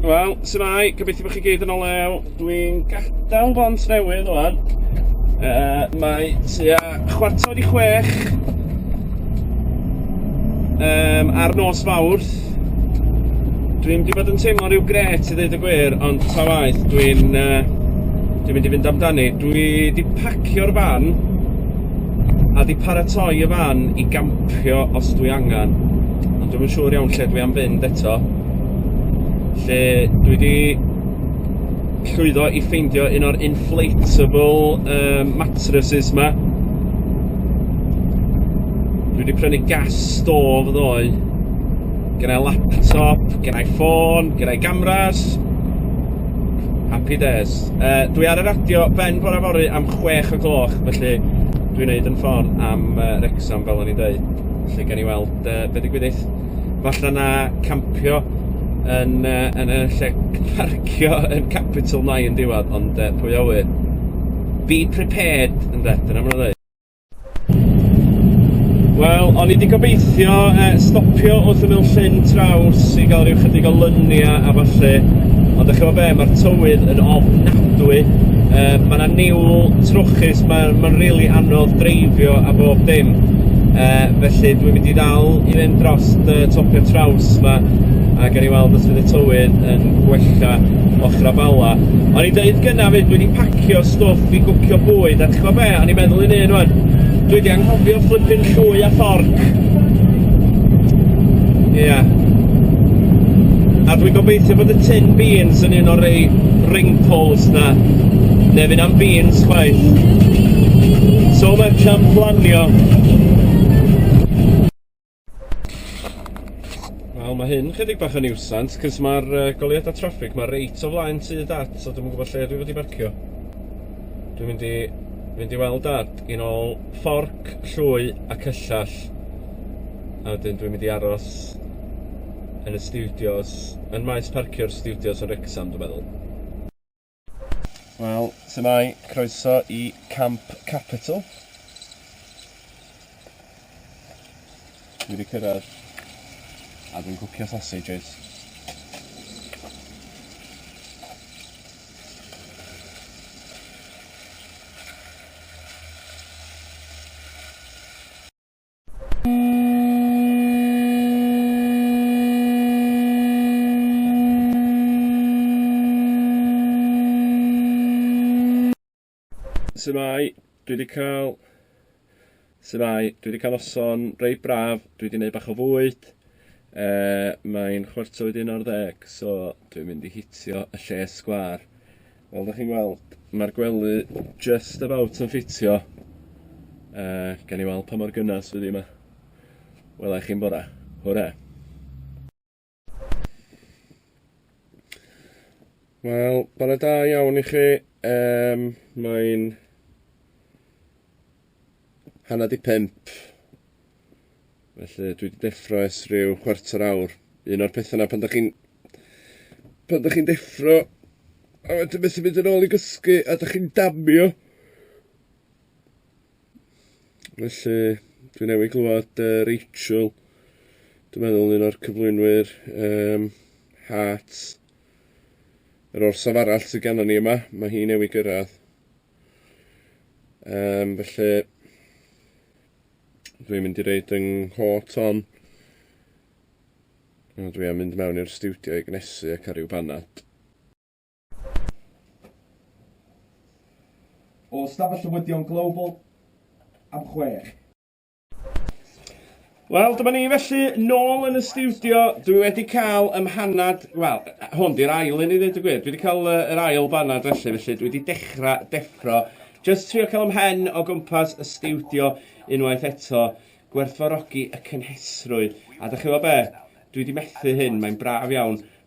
Wel, symai, gobeithio bod chi gyd yn o lew. Dwi'n gadael bont newydd o'n. Uh, mae tua chwarter i chwech um, ar nos fawrth. Dwi'n di bod yn teimlo rhyw gret i ddweud y gwir, ond ta waith, dwi'n... Uh, Dwi'n mynd i fynd amdani. Dwi di pacio'r fan a di paratoi y fan i gampio os dwi angen. Ond dwi'n yn siŵr iawn lle dwi am fynd eto. lle dwi 'di llwyddo i ffeindio un o'r inflatable yym mattresses 'ma. Dwi 'di prynu gas stove ddoe. Gynnai laptop, gynnai ffôn, gynnai gamras. Happy days. Yy dwi ar y radio ben bora fory am chwech o gloch felly dwi'n neud 'yn ffor am yy Wrecsam fel o'n i'n deud. Felly gawn ni weld yy be' digwyddith. falla na campio yn yy yn y lle parcio yn Capital Nine yn diwadd ond yy pwy a ŵyr. Be prepared ynde dyna ma' nw'n Wel, o'n i 'di gobeithio e, stopio wrth ymyl Llyn Traws i gael rhyw chydig o lynia a falle, ond ych chi'n be, mae'r tywydd yn ofnadwy, e, mae yna niwl trwchus, mae'n ma rili really anodd dreifio a bob dim. E, Felly dwi'n mynd i ddal i fynd dros y topia traws 'ma a gawn ni weld os fydd y tywydd yn gwella ochra Bala. O'n i'n deud gynna 'fyd dwi 'di pacio stwff i gwcio bwyd a ch'mo' be' o'n i'n meddwl un un rŵan dwi 'di anghofio fflipin llwy a fforc. Ia. A dwi'n gobeithio bod y tin beans yn un o'r rei ring poles 'na ne' fy' na'm beans chwaith. So much am planio. Wel ma' hyn chydig bach o niwsans 'c'os ma'r yy goleuada traffig 'ma reit o flaen tŷ dad so dwi'm yn gwbo lle dwi fod i barcio. Dwi'n mynd i mynd i weld dad yn ôl fforc llwy a cyllell a wedyn dwi'n mynd i aros yn y stiwdios yn maes parcio'r stiwdios yn Wrecsam dwi meddwl. Wel, sy'n mai, croeso i Camp Capital. Dwi wedi cyrraedd a dwi'n cwcio sausages. Symai, dwi wedi cael... Symai, dwi wedi cael noson rei braf, dwi wedi gwneud bach o fwyd, e, mae'n chwarter wedi un o'r ddeg, so dwi'n mynd i hitio y lle sgwar. Fel dych chi'n weld, mae'r gwely just about yn ffitio. Uh, gan i weld pa mor gynnes fydd hi yma. Wela i chi'n bora. Hwre! Wel, bore da iawn i chi. Um, Mae'n hanner di pump. Felly dwi wedi deffro es rhyw chwarter awr. Un o'r pethau yna pan da chi'n pan da chi'n deffro a wedyn beth yn mynd yn ôl i gysgu a da chi'n damio. Felly dwi newydd glwad uh, Rachel dwi'n meddwl un o'r cyflwynwyr um, Hearts yr orsaf arall sydd gennym ni yma, mae hi newydd gyrraedd. Um, felly, dwi'n mynd i reid yng nghot on. A dwi am mynd mewn i'r stiwdio i gnesu ac ar ryw banad. O Stafell Llywyddion Global am chwech. Wel, dyma ni felly nôl yn y stiwdio. Dwi wedi cael ym mhanad, wel, hwn di'r ail i ni ddweud y gwir. Dwi wedi cael uh, yr ail banad felly, felly dwi wedi dechrau deffro. Just trio cael ym mhen o gwmpas y stiwdio unwaith eto, gwerthfawrogi y cynhesrwydd. A da chi fo be? Dwi wedi methu hyn, mae'n braf iawn.